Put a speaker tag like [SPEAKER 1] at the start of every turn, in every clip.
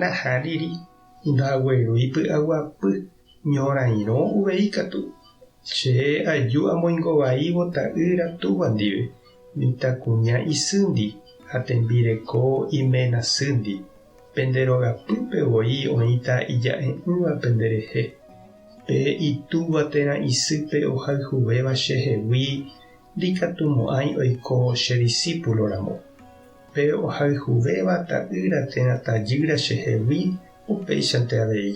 [SPEAKER 1] Nahá'iri, ndaguerui py'aguapy, ñorairõ uvei katu. Che aju amoingo vaívo ta'ýra túva ndive, mitãkuña isýndi ha tembireko iména sýndi. Pende rogapýpe voi oĩta ija'e'ỹva pende rehe. Pe itúva térã isýpe ohayhuvéva che hegui ndikatumo'ãi oiko che disípulo ramo. Pe ohayhuvéva ta'ýra térã tajýra chehegui upéichante avei,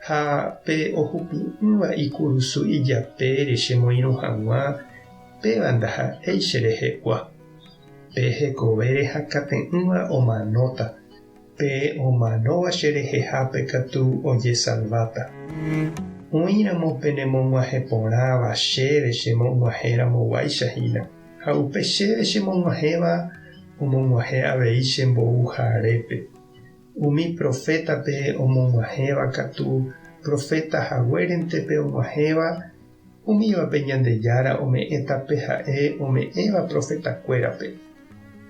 [SPEAKER 1] ha pe ohupi'ỹva ikurusu ijapére chemoirũ hag̃ua, péva ndaha'éi cherehegua. Pe hekovére hakãte'ỹva omanóta, Pe omanóva cherehehápe katu ojesalváta. Oĩramo penemog̃uahẽ porãva chéve chemog̃uahẽramo guáicha hína, ha upe chéve chemog̃uahẽva omog̃uahẽ avei che mbou harépe. Umi profétape omog̃uahẽva katu proféta haguérentepe og̃uahẽva Umívape Ñandejára ome'ẽta pe ha'e ome'ẽva profetakuérape.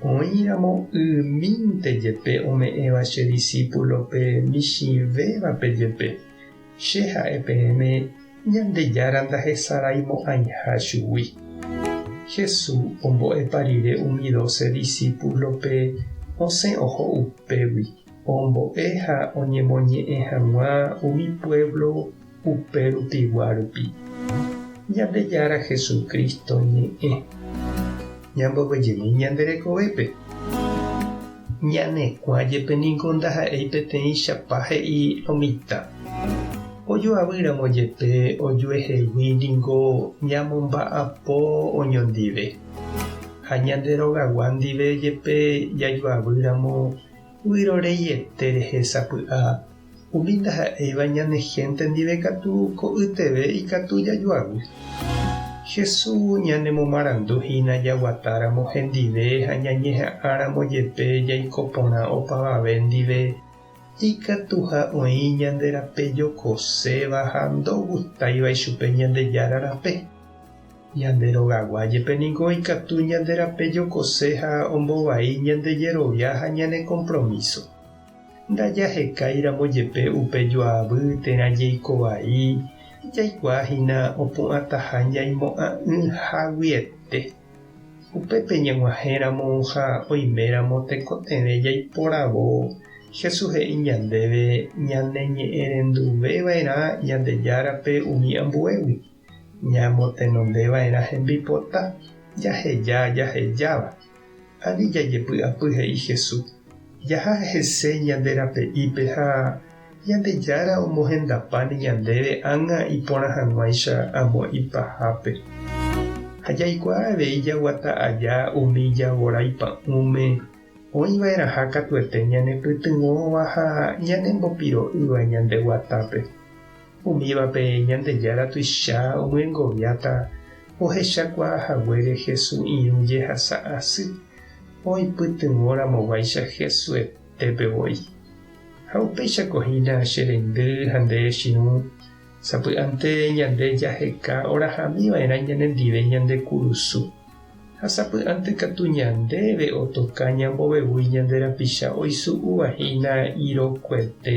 [SPEAKER 1] Oĩramo ymínte jepe ome'ẽva che disípulope michĩvévape jepe, Che ha'e peẽme Ñandejára ndahesaraimo'ãiha chugui. Hesu ombo'epa rire umi doce disípulope osẽ oho upégui, ombo'e ha oñemoñe'ẽ hag̃ua umi puévlo Upe rupigua rupi, Ñandejára Jesucristo ñe'ẽ ñamboguejemi ñande rekovépe. Ñanekuã jepe ningo ndaha'éi peteĩchapa he'i lo mitã. Ojoavy ramo jepe ojuehegui ningo ñamomba'apo oñondive. Ha ñande rogagua ndive jepe jajoavy ramo, vyrorei ete rehe sapy'a. Umi ndaha'éiva ñane hénte ndive katu ko'yteve ikatu jajoavy. Jesús ñanemomarandu hína jaguatáramo hendive ha ñañeha'ãramo jepe jaiko porã opavave ndive, ikatuha oĩ ñande rape jokoséva ha ndogustáiva ichupe Ñandejára rape. Ñande rogagua jepe ningo ikatu ñande rape jokose ha ombovai ñande jerovia ha ñane kompromíso. Ndajahekáiramo jepe upe joavy térã jeiko vai, jaikuaa hína opu'ãtaha ñaimo'ã'ỹ haguiete. Upépe ñag̃uahẽramo ha oiméramo tekotevẽ jaiporavo, Jesús he'i ñandéve ñaneñe'ẽrenduve va'erã Ñandejárape umi ambuégui. Ñamotenondeva'erã hembipota jaheja jahejáva, ani jajepy'apy he'i Hesu, jaha hese ñande rape'ípe ha Ñandejára omohendapáne ñandéve ág̃a iporã hag̃uáicha amo ipahápe. Ha jaikuaa avei jaguata aja umi javorái pa'ũme oĩva'erãha katuete ñanepytyvõva ha ñanembopiro'ýva ñande guatápe. Umívape Ñandejára tuicha omyengoviáta ohechakuaa haguére Hesu irũ jehasa asy, oipytyvõ ramoguáicha Hesu etépe voi. Ha upéichako hína che reindy ha nde echirũ, sapy'ánte ñande jaheka orahami vaerã ñanendive ñande kurusu. Ha sapy'ánte katu ñandéve otoka ñambovevúi ñande rapicha oisu'úva hína irokuete.